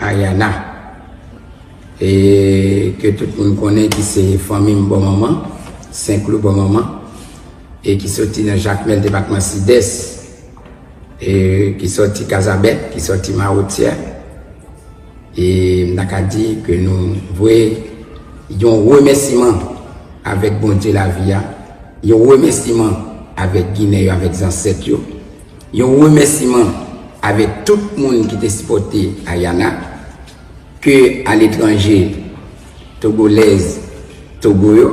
Ariana e ke tout moun konnen ki se fanmi m bò manman, Senklou bò manman e ki soti nan Jakmèl depatman Sidès e ki soti Kazabèk, ki soti Mawotyè e m ta ka di ke nou voye yon remèsiman avèk Bondye lavi a, yon remèsiman avèk Ginen yo, avèk zansèt yo. Yon remèsiman avèk tout moun ki te sipòte Ariana, ke aletranje, Togolèz Togo yo,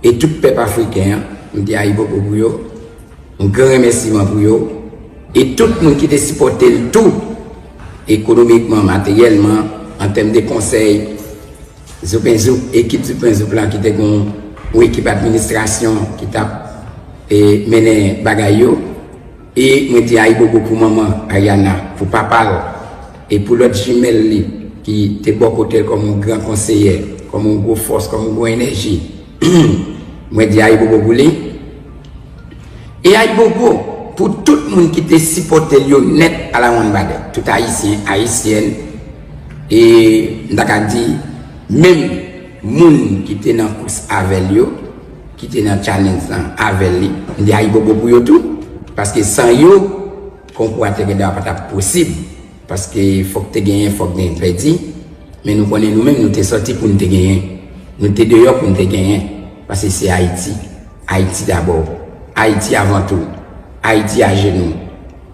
e tout pèp Afriken an, m di Ayibobo pou yo, yon gran remèsiman pou yo, e tout moun ki te sipòte l tou, ekonomikman, materyèlman, an tèm de konsèy. Zoupenzoup, ekip Zoupenzoup lan ki te gen yon ekip administrasyon ki t ap mennen bagay yo e mwen te ayibobo pou manman Ariana, pou papa l e pou lòt jimèl li ki te bò kote l kòm yon gran konseyè, kòm yon gwo fòs, kòm yon gwo enèji. Mwen di ayibobo pou li. E ayibobo pou tout moun ki te sipòte l yo nèt alawonnbadè, tout Ayisyen, Ayisyèn. E m ta ka di, menm moun ki te nan kous avè l yo, ki te nan challenge lan avè li, m di ayibobo pou yo tou. Paske san yo, konkou a te gen dwa pa t ap posib. Paske fòk te genyen, fòk gen pèdi. Men nou konnen nou menm nou te sòti pou n te genyen. Nou te deyò pou n te genyen. Paske se Ayiti. Ayiti dabò. Ayiti avan tou. Ayiti ajenou.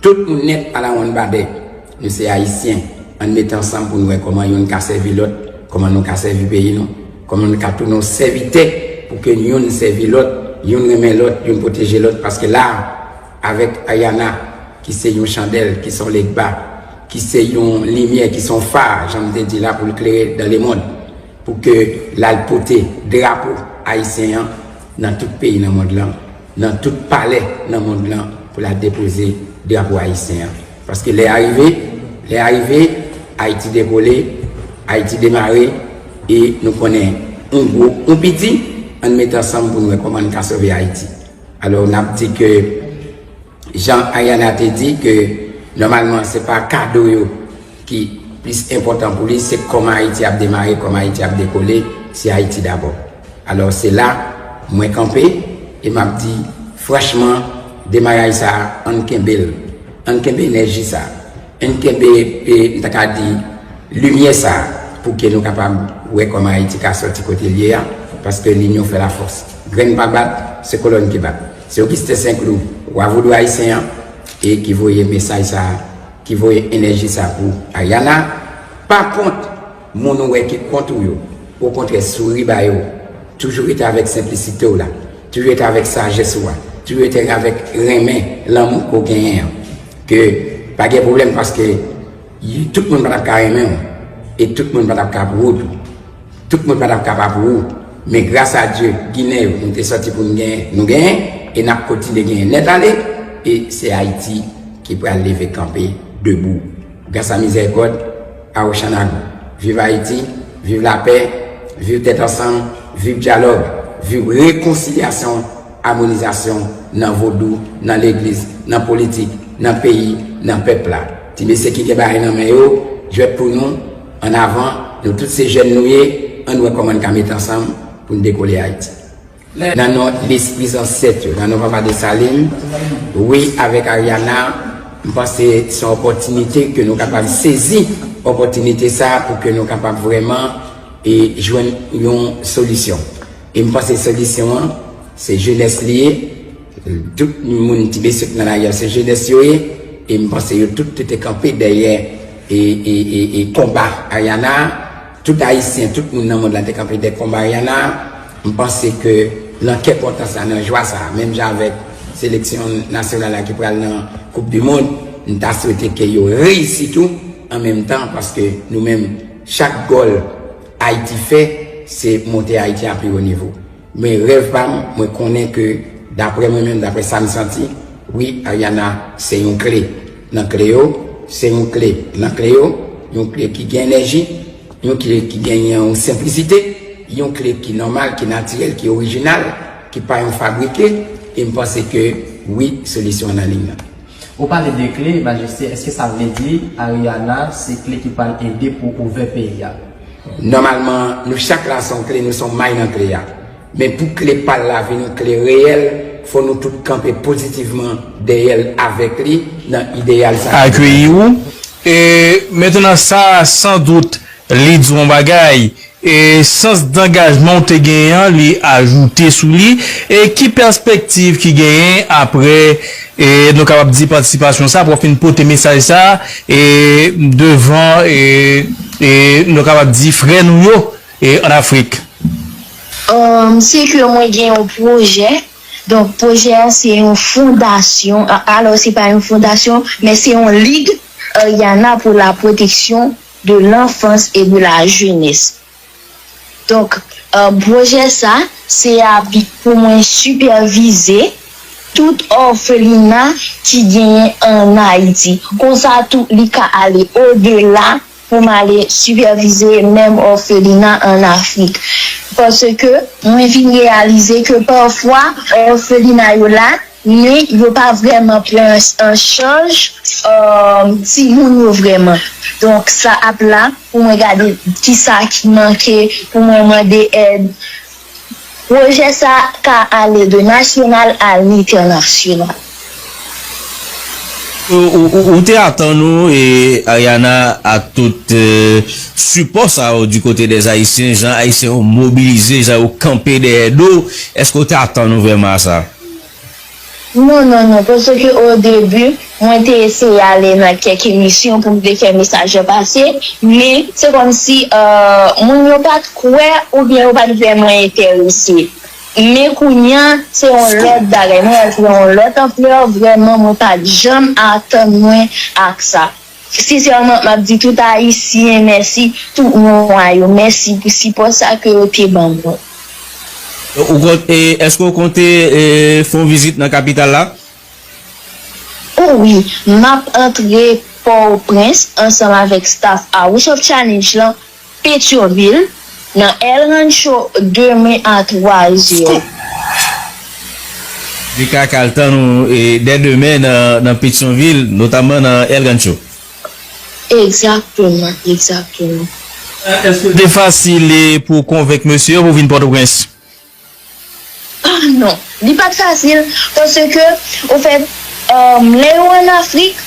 Tout moun nèt alawonn babè. Nou se Ayisyen, ann mete ansanm pou n wè kòman youn ka sèvi lòt, kòman nou ka sèvi peyi nou, kòman nou ka tounen yon sèvitè pou ke youn sèvi lòt, youn renmen lòt, youn pwoteje lòt paske la a, avèk Ayana ki se yon chandèl, ki se yon legba, ki se yon limyè, ki se yon fa, jan m te di la, pou l klere dan lemond, pou ke l al pote drapo Ayisyen an nan tout peyi nan mond lan, nan tout palè nan mond lan pou l al depoze drapo ayisyen an. Paske lè a rive, lè a rive, Ayiti dekole, Ayiti demare, e nou konnen on gwo, on piti, ann mete ansanm pou n wè kòman n ka sove Ayiti. Alò, n ap di ke, jan Ariana te di ke nòmalman se pa kado yo ki plis enpòtan pou li, se kòman Ayiti ap demare, kòman Ayiti ap dekole, se Ayiti dabò. Alò se la mwen kanpe e map di franchman demaraj sa ann kenbe l, ann kenbe enèji sa, ann kenbe m ta ka di limyè sa pou ke nou kapab wè kòman Ayiti ka sòti kote l ye a paske linyon fè lafòs. Grenn pa bat, se kolòn ki bat. Se Ogisten Senklou, Wa Vodou Ayisyen an e ki voye mesaj sa, ki voye enèji sa pou Ariana. Pa kont. Moun ou wè ki kont ou yo, okontrè souri ba yo. Toujou rete avèk senplisite w la. Toujou rete avèk sajès ou a. Toujou rete avèk renmen, lanmou ke w genyen an. Ke pa gen pwoblèm paske tout moun pa t ap ka renmen w. E tout moun pa t ap ka pwo tou. Tout moun pa t ap ka pa pou ou. Men gras a Dye, Ginen yo, nou te sòti pou nou genyen. Nou genyen e n ap kontinye genyen nèt ale. E se Ayiti ki pral leve kanpe debou. Gras a mizèrikòd pa Ochanago. Viv Ayiti, viv lapè, viv tèt ansanm, viv dyalòg, viv rekonsilyasyon, amonizasyon nan vodou, nan legliz, nan politik, nan peyi, nan pèp la. Ti mesye ki gen bagay nan men yo, jwèt pou nou, an avan, nou tout se jèn nou ye, ann wè kòman n ka met ansanm pou n dekole Ayiti. Nan non lespri zansèt yo, nan non papa Dessalines, wi avèk Ariana, m panse se yon opòtinite ke nou kapab sezi opòtinite sa a pou ke nou kapab vrèman e jwenn yon solisyon. E m panse solisyon an, se jenès li ye, tout moun ti mesye k nan lari a se jenès yo ye, e m panse yo tout te kanpe dèyè e konba Ariana a. Tout Ayisyen, tout moun nan mond la te kanpe dè konba Rihanna, m panse ke nan kè kontan sa, nan jwa sa, menm jan avèk seleksyon nasyonal la ki pral nan koup di mond, m ta swete ke yo reyisi tou an menm tan paske nou menm chak gòl Ayiti fè se monte Ayiti a pi wo nivo. Men rèv pa m, mwen konnen ke daprè mwen menm, daprè sa m santi, wi Ariana se yon kle Nan kle yo, se yon kle nan kle yo, yon kle ki gen enèji, yon kle ki gen yon senplisite, yon kle ki nòmal, ki natirèl, ki orijinal, ki pa yon fabrike, e m panse ke wi solisyon an nan liy nan. Ou pale de kle, Majeste, eske sa vle di Ariana se kle ki pral ede pou ouvè peyi a? Nòmalman, nou chak la se yon kle, nou se yon may nan kle a. Men pou kle pa l la vin kle reyèl, fò nou tout kanpe pozitivman dèyè l avèk li nan ideyal sa ki devan nou. Akeyi ou. E, mentnan sa a san dout li di w yon bagay. E, sans dangajman w te genyen an li ajoute sou li. E, ki pèspektiv ki genyen apre, e, nou kapab di patisipasyon sa a apre w fin pote mesaj sa a, e, devan, e, e, nou kapab di frè nou yo? E an Afrik? Umm se ke mwen gen yon pwojè, donk pwojè a se yon fondasyon, alò se pa yon fondasyon men se yon lig Ariana pour la protection de l'enfance et de la jeunesse. Donk pwojè sa se ap pou mwen sipèvize tout òfelina ki genyen an Ayiti. Konsa tou li ka ale odela pou m ale sipèvize menm òfelina an Afrik. Paske mwen vin reyalize ke pafwa òfelina yo la, men yo pa vrèman pran an chaj timoun yo vrèman. Donk sa ap la pou mwen gade kisa ki manke, pou mwen mande èd Pwojè sa a ka ale de nasyonal a lentènasyonal. Ou te atann ou e Ariana a tout sipò sa yo di kote des Ayisyen, jan Ayisyen yo mobilize, jan yo kanpe dèyè do w, eske ou te atann ou vrèman a sa? Non non non paske o debu mwen te eseye ale nan kèk emisyon pou m te fè mesaj yo pase men se kòmsi moun yo pat kwè oubyen yo pat vrèman entèrese men kounya se yon lòt bagay mwen wè l pran yon lòt anplè vrèman mwen pat janm atann mwen ak sa. Sinsèman map di tout ayisyen mèsi tout mwa yo mèsi pou sipò sa ke yo te ban mwen. Ou kont e eske ou konte e fon vizit nan kapital la? O wi, map antre Port-au-Prince ansanm avèk staff House of Challenge lan Petyonvil, nan El Rancho demen a 3 zè. Li ka kal tann ou dè demen nan Petyonvil, notamman nan El Rancho. Egzakteman, egzakteman. Èske l te fasil pou w konvenk mesye yo pou w vin Pòtoprens? Ah non, li pat fasil paske ofèt lè yo an Afrik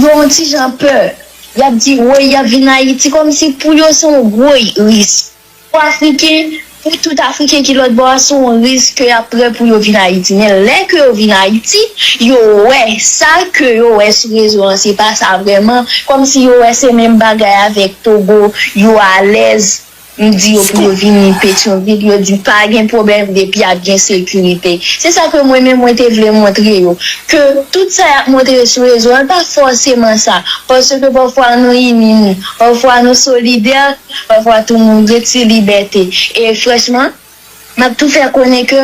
yo yon ti jan pè, yap di woy yap vin Ayiti kòmsi pou yo se yon gwo risk. Pou Afriken, pou tout Afriken ki lòt bò a se yon risk ke yap prè pou yo vin Ayiti men lè ke yo vin Ayiti yo wè sa ke yo wè sou rezo an se pa sa vrèman kòmsi yo wè se menm bagay avèk Togo yo alèz M di yo pou yo vini Petyonvil, yo di pa gen pwoblèm depi ap gen sekirite. Se sa ke mwen menm mwen te vle montre yo, ke tout sa yap montre sou rezo an pa fòseman sa, paske pafwa nou ini nou, pafwa nou solidè, pafwa tou moun gen ti libète. E franchman. Nap tou fè konnen ke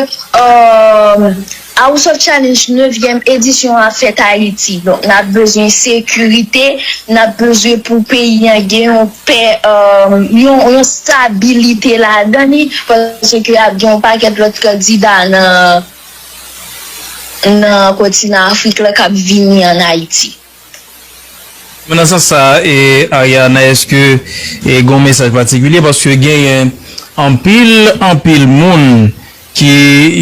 House of Challenge nevyèm edisyon an fèt Ayiti. Donk nap bezwen sekirite, nap bezwen pou peyi an gen yon pè, yon stabilite ladan li paske ap gen yon pakèt lòt kandida nan kontinan Afrik la kap vini an Ayiti. Men nan sans sa e Ariana eske e gon mesaj patikilye paske genyen anpil anpil moun ki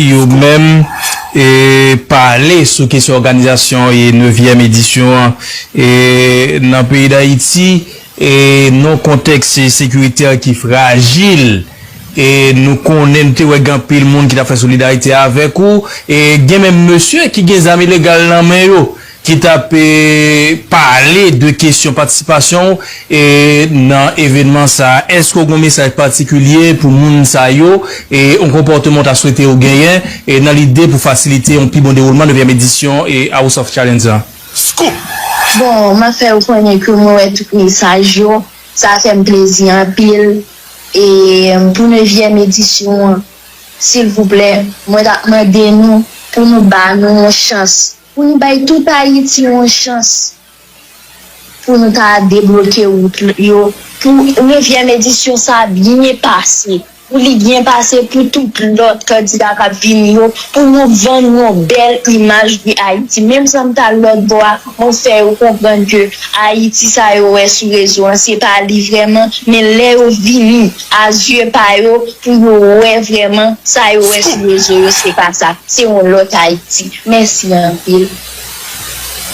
yo menm e pa ale sou kesyon òganizasyon e nevyèm edisyon an e nan peyi dayiti e non kontèks e sekiritè ki frajil e nou konnen nou te wè gen anpil moun ki tap fè solidarite avèk ou e gen menm mesye ki gen zam ilegal nan men yo ki t ap pale de kesyon patisipasyon w nan evenman sa a. Èske w gen yon mesaj patikilye pou moun sa yo, yon konpòteman w ta swete yo genyen nan lide pou fasilite yon pi bon dewoulman nevyèm edisyon House of Challenge la? Scoop! Bon, m ap fè w konnen ke mwen wè tout mesaj yo, sa fè m plezi anpil. E pou nevyèm edisyon an, silvouplè, mwen t ap mande nou pou nou ba nou yon chans. Pou nou bay tout Ayiti yon chans pou nou ta debloke wout yo pou nevyèm edisyon sa a byen pase, pou li byen pase pou tout lòt kandida k ap vini yo, pou nou vann yon bèl imaj de Ayiti. Menm san m t al lòtbò a, mwen fè yo konprann ke Ayiti sa yo wè sou rezo an, se pa li vrèman, men lè yo vini. a zye pa yo pou yo wè vrèman sa yo wè sou rezo yo se pa sa, se yon lòt Ayiti. Mèsi anpil.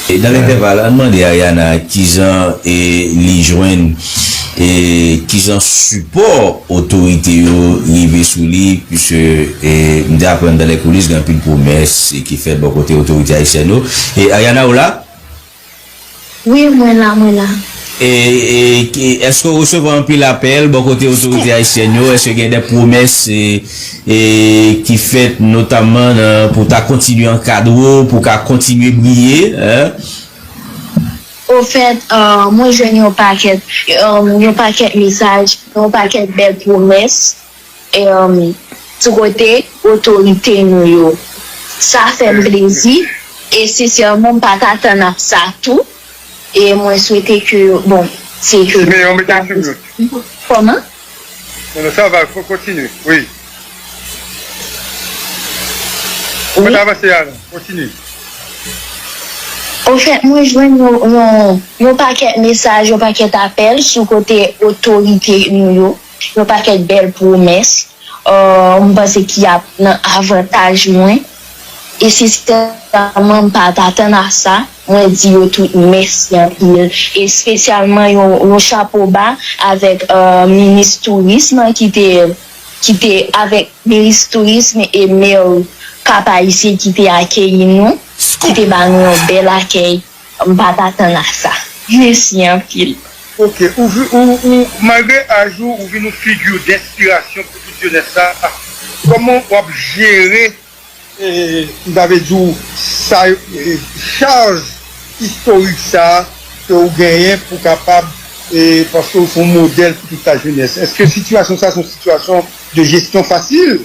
E nan entèval la, ann mande Ariana ki jan e li jwenn e ki jan sipò otorite yo rive sou li puiske e m te aprann dan lè koulis gen anpil pwomès ki fèt bò kote otorite ayisyèn yo. E Ariana ou la? Wi mwen la mwen la. Èske w resevwa anpil apèl bò kote otorite ayisyèn yo? Èske gen de pwomès ki fèt notamman pou w ta kontinye ankadre w, pou w ka kontinye briye? Ofèt, mwen jwenn yon pakèt, yon pakèt mesaj, yon pakèt bèl pwomès. Sou kote otorite nou yo. Sa fè m plezi e sensèman m pa t atann ak sa tou e mwen swete ke bon se ke Simeon mete l sou mute. Kòman? Non non sa va kontinye wi. Ou pa t avanse a non. Kontinye. Ofèt mwen jwenn yon pakèt mesaj yon pakèt apèl sou kote otorite nou yo. Yon pakèt bèl pwomès m panse ki ap nan avantaj mwen e sensèman m pa t atann a sa. Mwen di yo tout mèsi anpil espesyalman yon chapo ba avèk minis tourism ki te avèk minis tourism e Maire Cap-Haïtien ki te akeyi nou, ki te ba nou yon bèl akèy. M pat atann a sa. Mesi anpil. Ok ou ou malgre aj ou ou vin yon figure d'inspiration pou tout jeunesse sa a koman wap jere m ta vle di w sa charge historique sa a ke ou genyen pou kapab paske ou son modèle pou tout la jeunesse eske situation sa a son situation de gestion facile?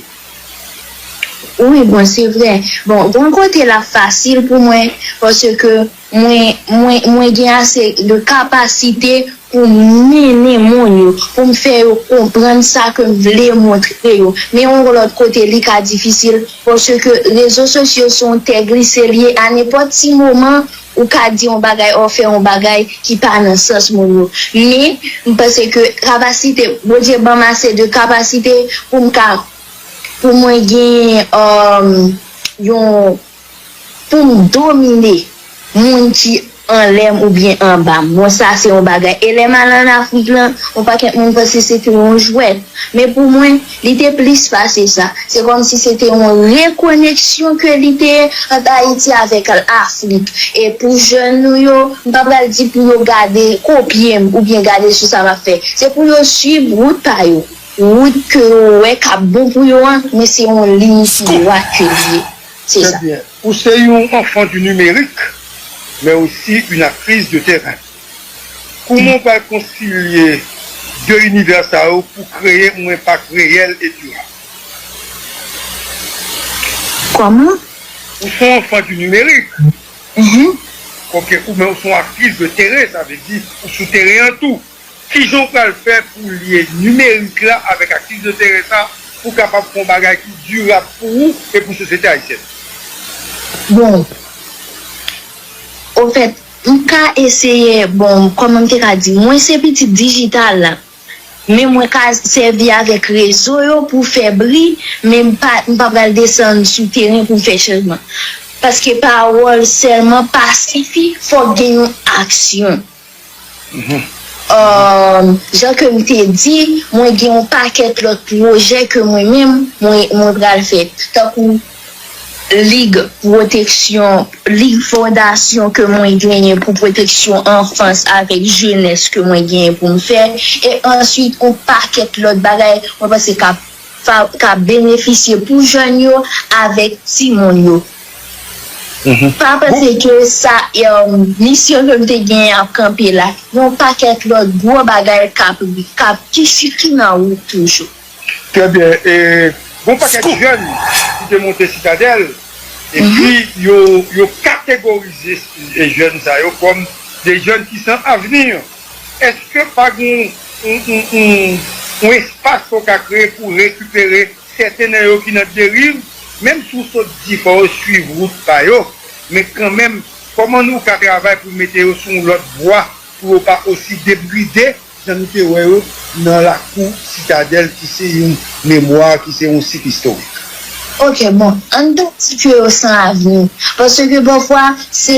Wi bon se vre bon gen yon kote lap fasil pou mwen paske mwen mwen mwen gen ase de kapasite pou m mennen moun yo pou m fè yo konprann sa ke m vle montre yo men yon lòt kote li ka difisil paske rezo sosyo se yon tè glise li ye a nenpòt ti moman Ou ka di yon bagay or fè yon bagay ki pa nan sans moun yo. Men, m panse ke kapasite, Bondye ban m ase de kapasite pou m ka, pou mwen genyen um yon, pou m domine moun ki anlè m oubyen anba m. Bon sa se yon bagay. E lè m al an Afrik lan, yon pakèt moun panse se te yon jwèt. Men pou mwen. Li te plis pase sa, se kòm si se te yon rekoneksyon ke li te ye ant Ayiti avèk Lafrik. E pou jèn nou yo, m pa pral di pou yo gade, kopye m oubyen gade sou sa m ap fè. Se pou yo swiv wout pa yo, wout ke yo wè k ap bon pou yo an, men se yon liy tou dwat ke li ye. Se sa. Ou se yon enfant du numérique, mais aussi une actrice de terrain. Kouman ou pral konsilye 2 inivè sa yo pou kreye yon enpak reyèl e dirab? Kòman? Ou son anfan di nimerik. Ehe. Ok, ou men ou son aktris de teren, sa vle di ou sou teren an tou. Kijan ou pral fè pou w lye nimerik la avèk aktris de teren sa pou w kapab fè yon bagay ki dirab pou ou e pou sosyete ayisyèn? Bon, ofèt. M ka eseye bon kòman m te ka di mwen se pitit dijital la men mwen ka sèvi avèk rezo yo pou fè bri men m pa m pa pral desann sou teren pou m fè chanjman paske pawòl sèlman pa sifi fòk gen yon aksyon jan ke m te di mwen gen yon pakèt lòt pwojè ke mwen menm mwen pral fè tankou. Lig pwoteksyon, lig fondasyon ke mwen genyen pou pwoteksyon anfans avèk jenès ke mwen genyen pou m fè e answit on pakèt lòt bagay mwen panse k ap k ap benefisye pou jèn yo avèk timoun yo. Pa panse ke sa misyon ke m te genyen ap kanpe la. Yon pakèt lòt gwo bagay k ap k ap ki nan wout toujou. Trè byen, e gon pakèt jèn ki te monte Sitadèl epi yo kategorize jèn sa yo kòm de jèn ki san avni. Eske pa gen yon espas ke w ka kreye pou rekipere sèten nan yo ki nan deriv? Menm si w sot di fò yo swiv wout pa yo, men kanmenm kòman nou ka travay pou mete yo sou yon lòt vwa pou yo pa osi debride? Jan nou te wè yo nan lakou Sitadèl ki se yon memwa, ki se yon sit istorik. Ok bon, ann pa di ke yo san avni, paske pafwa se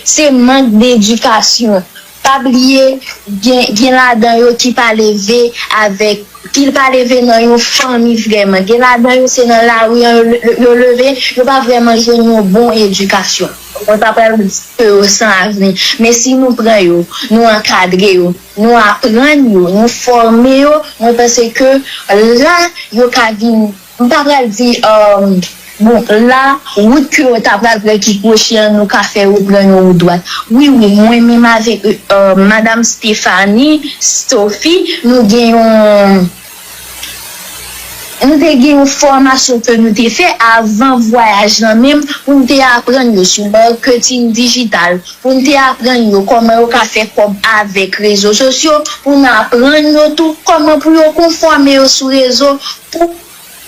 se mank dedikasyon. Pa bliye gen gen ladan yo ki pa leve avèk, ki pa leve nan yon fanmi vrèman. Gen ladan yo se nan lari an yo leve, yo pa vrèman jwenn yon bon edikasyon. Mwen pa pral di ke yo san avni, men si nou pran yo, nou ankadre yo, nou aprann yo, nou fòme yo, mwen panse ke la yo ka vin, m pa pral di, bon, la wout ke yo ta pral pran ki kwochi an, nou ka fè yo pran yon wout dwat. Wi, wi, mwen menm avèk Madam Stéphanie, Stophy, nou gen yon. Nou te gen yon fòmasyon ke nou te fè avan vwayaj lan menm pou n te aprann yo sou marketing digital, pou n te aprann yo kòman yo ka fè kòb avèk rezo sosyo, pou n aprann yo tou kòman pou yo konfòme yo sou rezo pou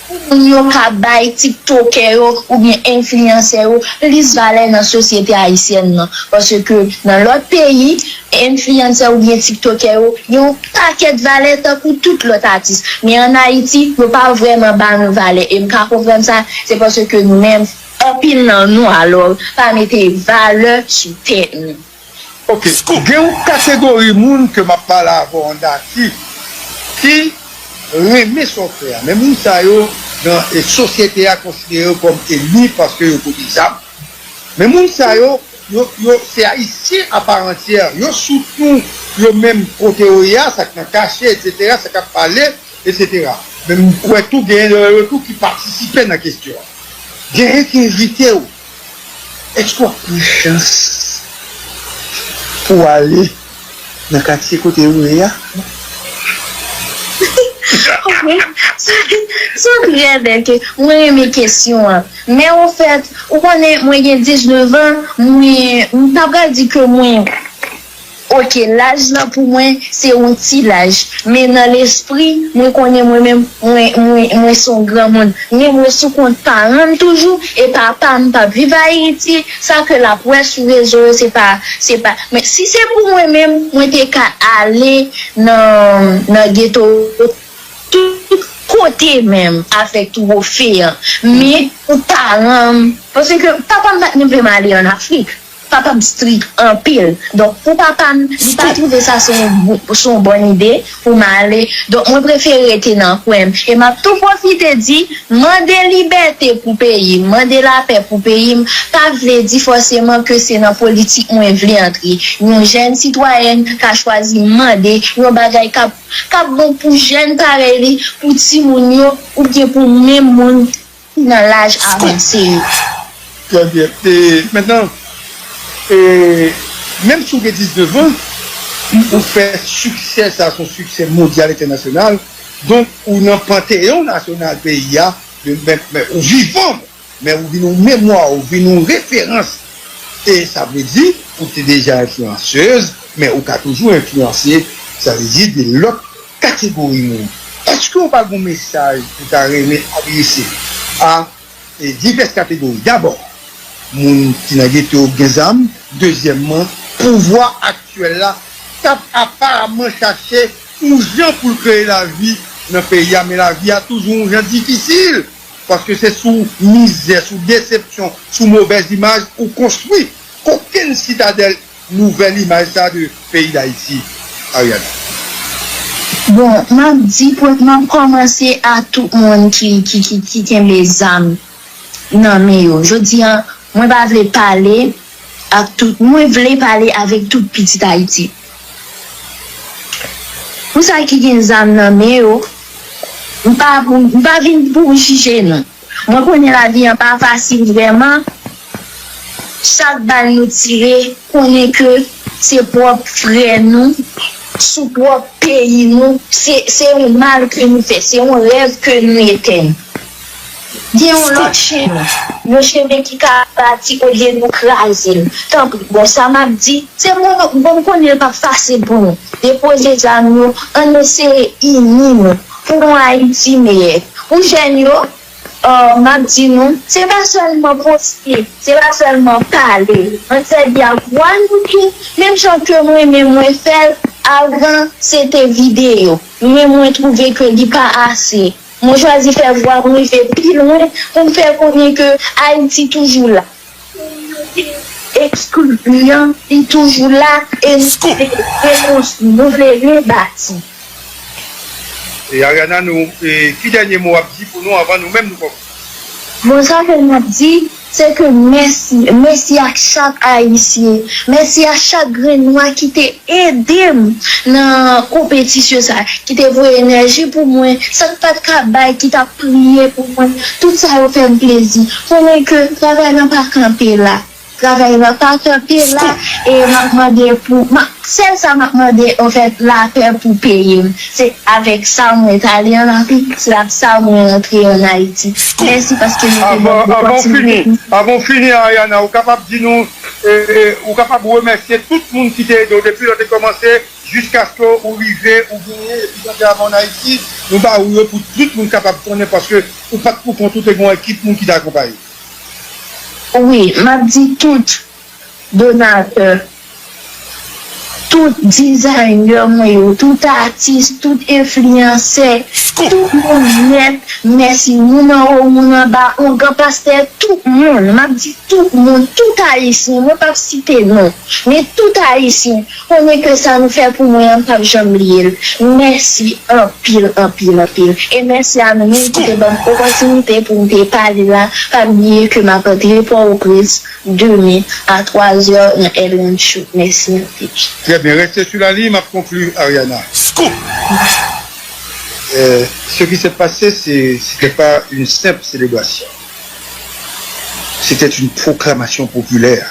Pou moun yo ka bay tiktokè yo oubyen enfliyansè yo plis valè nan sosyete ayisyèn nan. Paske nan lòt peyi, enfliyansè oubyen tiktokè yo gen yon pakèt valè tankou tout lòt atis. Men an Ayiti, yo pa vrèman ba nou valè. E m ka konprann sa, se paske nou menm, anpil nan nou alò, pa mete valè sou tèt nou. Ok, gen yon kategori moun ke map pale avèw an daki ki renmen sa wap fè a, men moun sa yo nan sosyete a konsidere yo kòm enmi paske yo pote zam, men moun sa yo yo se ayisyen a part entière, yo soutnou yo menm kote yo ye a, sak nan kache etc, sa kap pale etc, men m kwè tou gen nan yo tou ki patisipe nan kesyon an, genyen ki envitew. Èske w ap pran chans pou w ale nan katye kote yo ye a? Ok, sou trè bèl ke, mwen renmen kesyon an. Men ofèt, ou konnen mwen gen 19 an, mwen, m ta pral di ke mwen. Ok laj lan pou mwen se yon ti laj men nan lespri mwen konnen mwen menm mwen se yon granmoun men mwen sou kont paranm toujou e papam pap viv ayiti sa ke lap wè sou rezo yo se pa se pa men si se pou mwen menm mwen te ka ale nan geto tout kote menm avèk twofe an men pou paranm paske papam pat menm vlem ale an afrik. Papam strik anpil donk pou papam li pa twouve sa se yon bòn ide pou m ale donk mwen prefere rete nan kwen m e map tou pwofite di mande libète pou peyi m mande lapè pou peyi m pa vle di fòseman ke se nan politik mwen vle antre yon jèn sitwayèn ka chwazi mande yon bagay kap kap bon pou jèn parèy li pou timoun yo oubyen pou menm moun ki nan laj avanse yo. Trè byen. E, mentnan, e, menm si w gen 19 an, ou fè siksè sa a se yon siksè mondyal entènasyonal, donk ou nan panteyon nasyonal peyi a, men ou vivan, men ou vin yon memwa, ou vin yon referans. E sa vle di, ou te deja enfliyansez, men ou ka toujou enfliyanse, sa vle di de lòt. Kategori moun. Èske ou pa gen yon mesaj ou ta renmen adrese a divès kategori? Dabò, moun ki nan geto yo gen zam. Dezyèmman, pouvwa aktyèl la k ap aparamman chache yon jan pou l kreye lavi nan peyi a, men lavi a toujou yon jan difisil, paske se sou mizè, sou desepsyon, sou movèz imaj ou konstwi kokenn sitadèl. Nouvèl imaj sa de peyi dayiti Ariana. Bon map di pwèt map kòmanse a tout moun ki ki ki ki kenbe zam nan men yo jodi an mwen pa vle pale ak tout mwen vle pale avèk tout pitit ayiti pou sa ki gen zam nan men yo m pa pou m pa vin pou m jije nou. Mwen konnen lavi an pa fasil vrèman chak bal nou tire konnen ke se pwòp frè nou sou pwòp peyi nou se yon mal ke nou fè se yon rèv ke nou etèn gen yon lòt chemen yon chemen ki ka bati olye nou krazel tanpri bon sa map di se pou nou bon m konnen l pap fasil pou nou depoze zam nou ann eseye ini nou. Pou yon Ayiti meyè pou jèn yo, m ap di nou, se pa sèlman poste, se pa sèlman pale. Ann sèvi ak vwa nou tou, menm jan ke mwen menm mwen fè l, avan se te videyo, men mwen twouve ke li pa ase. Mwen chwazi fè vwa m rive pi lwen pou m fè konnen ke Ayiti toujou la. Ekskliv lan li toujou la e nou ka rekonstwi, nou vle rebati. E Ariana nou e ki dènye mo wap di pou nou anvan nou menm nou kòmanse? Mo sa ke map di se ke mèsi, mèsi ak chak ayisyen, mèsi a chak grenn nwa ki te edem nan konpetisyon sa, ki te voye enèji pou mwen, sa m pat ka bay ki ta. Priye pou mwen, tout sa yo fèm plezi. Konnen ke travay lan pa kanpe la. Travay lan pa kanpe la e map mande pou sèl sa map mande anfèt lapè pou peyim. Se avèk sa mwen t ale an Afrik, se ak sa mwen rantre an Ayiti. Mèsi paske nou te banm opòtinite pou sa. Avan w fini Ariana ou kapab di nou ou kapab remèsye tout moun ki te ede w depi lè w te kòmanse? Jiskaske ou rive ou genyen epi gade avan an Ayiti, nou ba ou yo pou tout moun kapab konnen paske ou pat pou kont ou te gen yon ekip moun ki te akonpaye. Wi, map di tout donatè, tout designer mwen yo, tout atis, tout enfliyansè, tout moun nèt, mèsi moun anwo moun anba, ongan pastè, tout moun, map di tout moun, tout ayisyen, mwen pap site non, men tout ayisyen, Konnen ke sa nou fè pou mwen an m pap janm bliye l. Mèsi anpil anpil anpil. E mèsi a nou menm ki te ban m opòtinite pou m te pale la. Pa bliye ke m ap antre Pòwoprens demen a 3 zè nan èd Rancho. Mèsi anpil. Trè byen, reste sou la liy, m ap konkli Ariana. Scoop! Ce qui s'est passé ce n'était pas une simple célébration, c'était une proclamation populaire.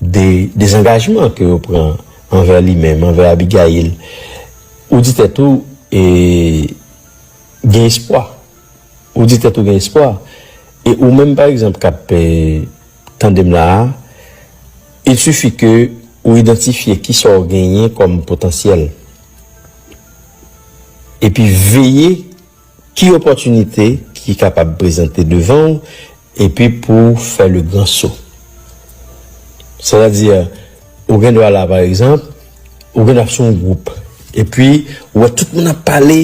De dezangajman ke yo pran anvè li menm, anvè Abigayil, ou di tèt ou, e, gen espwa. Ou di tèt ou gen espwa. E ou menm pa egzanp k ap tande m la a, il sifi ke ou idantifye ki sa ou genyen kòm potansyèl. Epi veye. Ki opòtinite ki kapab prezante devan ou epi pou w fè le gran so? Sètadi, ou gen dwa la, pa egzanp, ou gen dwa ap sou yon gwoup, epi ou wè tout moun ap pale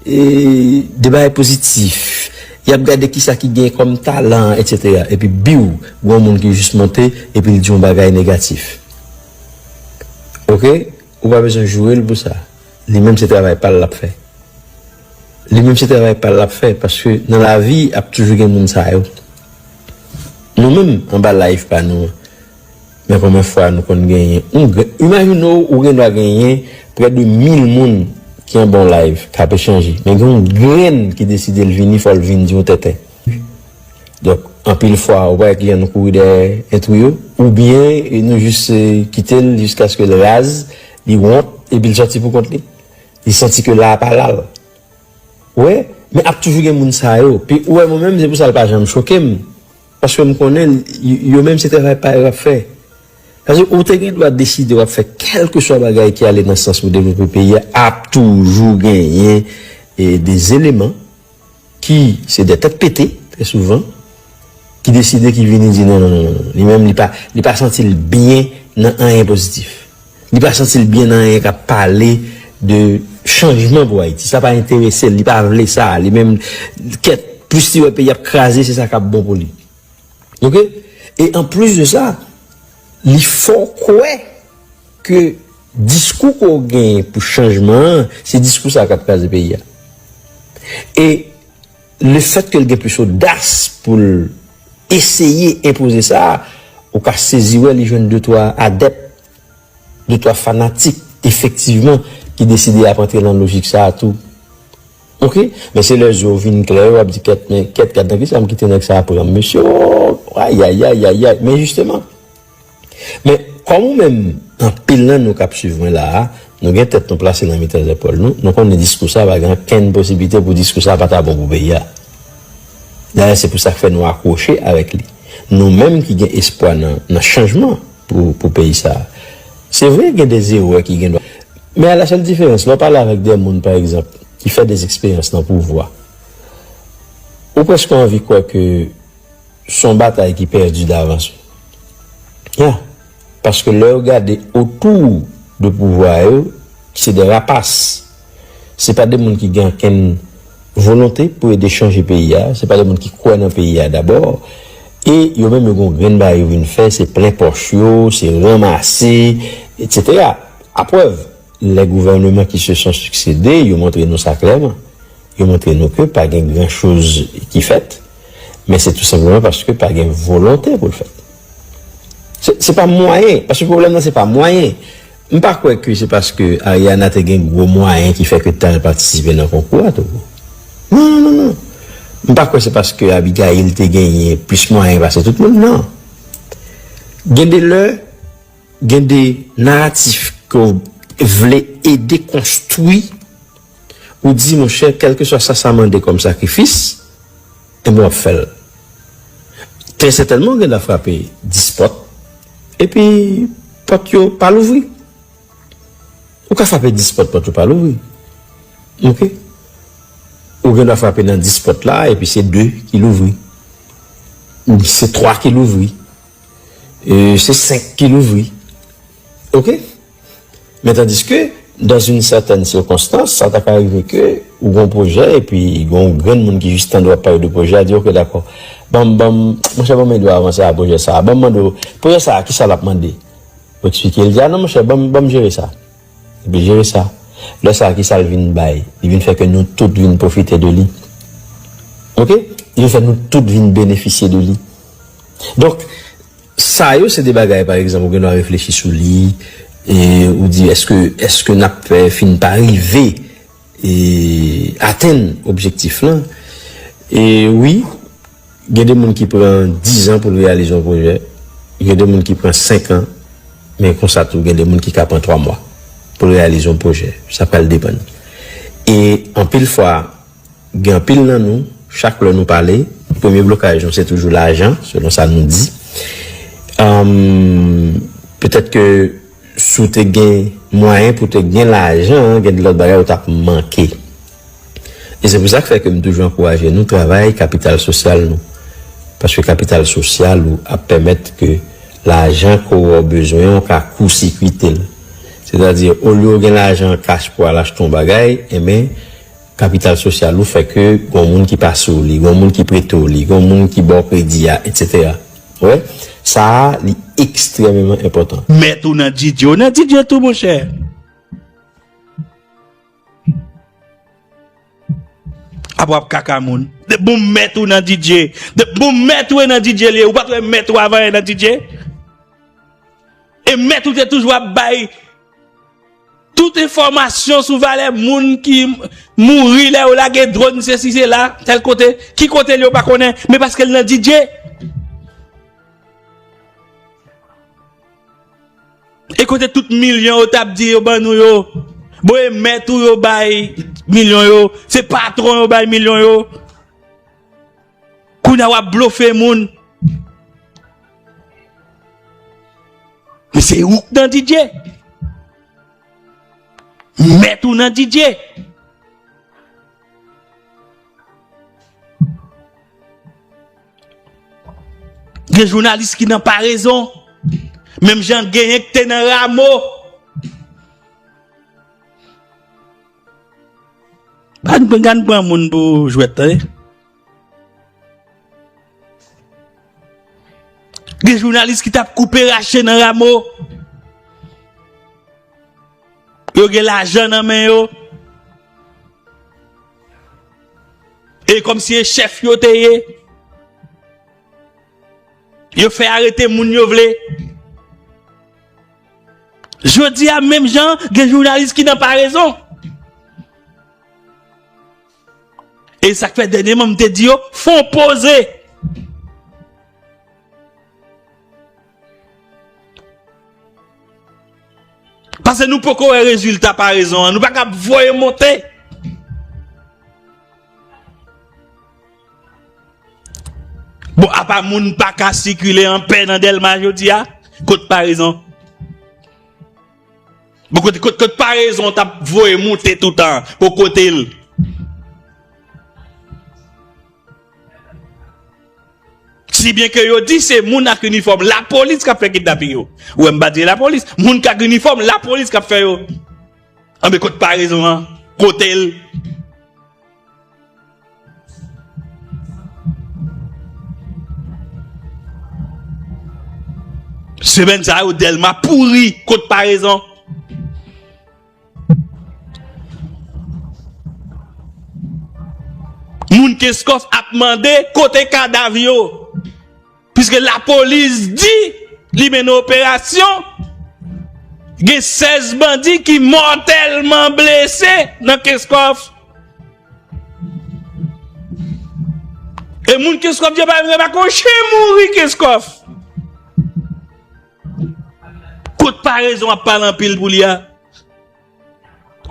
de bagay pozitif, y ap gade kisa ki gen kòm talan, etsetera, epi biw, gen yon moun ki jis monte epi l di yon bagay negatif. Ok. Ou pa bezwen joure l pou sa. Li menm se travay pa l l ap fè. Li menm se travay pa l l ap fè paske nan lavi ap toujou gen moun sa yo. Nou menm anba live pa nou an men konbyen fwa nou konn genyen yon grenn. Imajine w ou gendwa genyen prè de mil moun ki anba yon live k ap echange men gen yon grenn ki deside l vini fò l vin di yon tenten. Donk anpil fwa ou pa wè kliyan nou kouri dèyè entrou yo oubyen nou jis kite l jiskaske l raz, li wont epi l sòti pou kont li. Li santi ke la a pa la l. Ou wè? Men ap toujou gen moun sa yo. Pi ou wè mwen menm se pou sa l pa janm choke m. Paske m konnen yo menm se travay pa yo y ap fè. Paske ou te gen dwa deside w ap fè kèlkeswa bagay ki ale nan sans pou devlope peyi a ap toujou genyen des eleman. ki se de tèt pete trè souvan, ki deside ki vini di non non non non, li menm li pa, li pa santi l byen nan anyen pozitif. Li pa santi l byen nan anyen k ap pale de chanjman pou Ayiti. Sa pa enterese l, li pa vle sa. Li menm, kèt, plis li wè peyi ap kraze, se sa k ap bon pou li. Ok? E anplis de sa, li fè w kwè. Ke diskou ke w genyen pou chanjman an, se diskou sa a k ap kraze peyi a. E lefèt ke l gen plis odas pou l eseye enpoze sa, ou ka sezi wè li jwenn de twa adèp, de twa fanatik efektivman ki deside y ap antre nan lojik sa a tou. Ok. Men se lè je w vin klè yo w ap di kèt men kèt gad nan kisa m kite nèg sa a pran m mesye oo ayayayayay men jisteman. Men, kòm ou menm, anpil nan nou k ap suiv mwen la a, nou gen tèt nou plase nan mitan zèpòl nou, nou konnen diskou sa a pa gen okenn posiblite pou diskou sa a pa ta bon pou peyi a. Dayè, se pou sa k fè nou akwoche avèk li, nou menm ki gen espwa nan chanjman pou peyi sa a. Se vre, gen de zerè ki gendwa. Men ala sèl diferans, lè w pale avèk de moun, pa egzanp, ki fè de eksperyans nan pouvwa, ou prèske anvi kwè ke. Son batay ki pèdi davans wi. Yeah paske lèw gade otou de pouvwa yo se de rapas se pa de moun ki gen ankenn volonte pou ede chanje peyi a se pa de moun ki kwè nan peyi a dabò e yo menm yo gen yon grenn bagay yo vin fè se plen pòch yo se ranmase etc a prèv lè gouvèneman ki se son siksede yo montre nou sa klèman yo montre nou ke pa gen gran choz ki fèt. Men se tou senpleman paske pa gen volonte pou l fèt. Se pa mwayen, paske pwoblèm nan se pa mwayen. M pa kwè ke se paske Ariana te gen gwo mwayen ki fè ke tan l patisipe nan konkou a tou. Non, non, non, non. M pa kwè se paske Abigail te genyen plis mwayen pase tout moun, non. Gen de lè, gen de naratif ke w vle ede konstwi. Ou di monchè kèlkeswa sa sa mande kòm sakrifis, enben w ap fè l. Trè sètènman ou gen dwa frape dis pòt, epi pòt yo pa louvri. Ou ka frape dis pòt, pòt yo pa louvri. Oke? Ou gen dwa frape nan dis pòt la, epi se de ki louvri. Ou bi se twa ki louvri. Se senk ki louvri. Oke? Men tandiske, dans une certaine circonstance, sa ta ka rive ke ou gon pwojè epi gon yon grenn moun ki jis tande w ap pale de pwojè a di ok dakò, ban m, ban m, monchè ban m ede w avanse a pwojè sa a, ban m mande w, pwojè sa a kisa l ap mande? Ou eksplike, li di a non monchè ban m, ban m jere sa. Epi l jere sa. Lè sa a kisa l vin bay? Li vin fè ke nou tout vin pwofite de li. Ok? Li vin fè nou tout vin benefisye de li. Donk. Sa yo se de bagay pa egzanp ou gen dwa reflechi sou li e ou di eske eske n ap fin pa rive e atenn objektif lan. E wi gen de moun ki pran dizan pou l reyalize yon pwojè, gen de moun ki pran senkan men konsa tou gen de moun ki ka pran twa mwa pou l reyalize yon pwojè, sa pral depann. E anpil fwa. Gen anpil nan nou, chak lè nou pale, premye blokaj nou se toujou lajan, selon sa nou di. Petèt ke si w te gen mwayen pou te gen lajan, gen de lòt bagay ou t ap manke. E se pou sa k fè ke m toujou ankouraje nou travay kapital sosyal nou. Paske kapital sosyal ou ap pèmèt ke lajan ke ou bezwen ou ka kousikwite l. Sètadi, olye ou gen lajan kach pou al achte yon bagay, enben, Kapital sosyal ou fè ke gon moun ki pa sou li, gon moun ki prete w li, gon moun ki ba w kredi a, etsetera. Ou wè? Sa a, li ekstrememan enpòtan. Mèt ou nan Didye, ou nan Didye tou monchè. Apre w ap kaka moun. Depi bon mèt ou nan Didye, depi bon mèt ou e nan Didye li ye, ou pa t wè mèt ou avan e nan Didye? E mèt ou te toujou ap bay. Tout enfòmasyon sou valè moun ki mouri lè yo lage dronn sesi sela, tèl kote, ki kote l yo pa konnen, men paske l nan Didye. E kote tout milyon yo t ap di yo ban nou yo? Bon e mèt ou yo bay milyon yo, se patwon yo bay milyon yo. Kounya wap blofe moun. Mesye ou k nan DJ. Mèt ou nan DJ. Gen jounalis ki nan parezon. Menm jan genyen k te nan ramo. Gad gad pran moun pou jwèt tande. Gen jounalis ki tap koupe rache nan ramo. Yo gen lajan nan men yo. E kom si e chèf yo te ye. Yo fè arete moun yo vle. Jodi a menm jan gen jounalis ki nan parezon. E sak fè dènye man m te di yo fon poze. Pase nou poko wè rezilta parezon an nou pa kab voye monte. Bon, apa moun pa ka sikile an pè nan Delma jodi a? Kot parezon? Bon, kot, kot, kot parezon tap voye moute toutan o kote l? Si byen ke yo di se moun ak inifòm la polis kap fè kidnaping yo. Ou wè m pa di la polis. Moun kak inifòm la polis kap fè yo. An be kot parezon an? Kote l? Semèn sa yo Delma pouri kot parezon. Moun Kenskòf ap mande kote kadav yo. Piske lapolis di li mennen operasyon, gen 16 bandi ki mòtèlman blese nan Kenskòf. E moun Kenskòf yo pa menm remak yon chen mouri Kenskòf. Kot parezon ap pale anpil pou li a?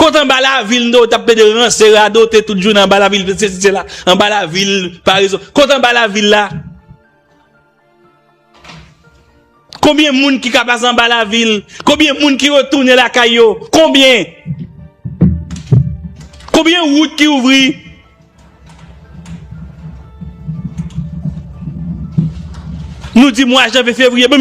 Kot anba lavil mtande w tap plede ranse radote tout jounen anba lavil fè sesi sela anba lavil parezon kot anba lavil la konbyen moun ki ka pase anba lavil konbyen moun ki retounen lakay yo konbyen konbyen wout ki ouvri nou di mwa janvye fevriye bon.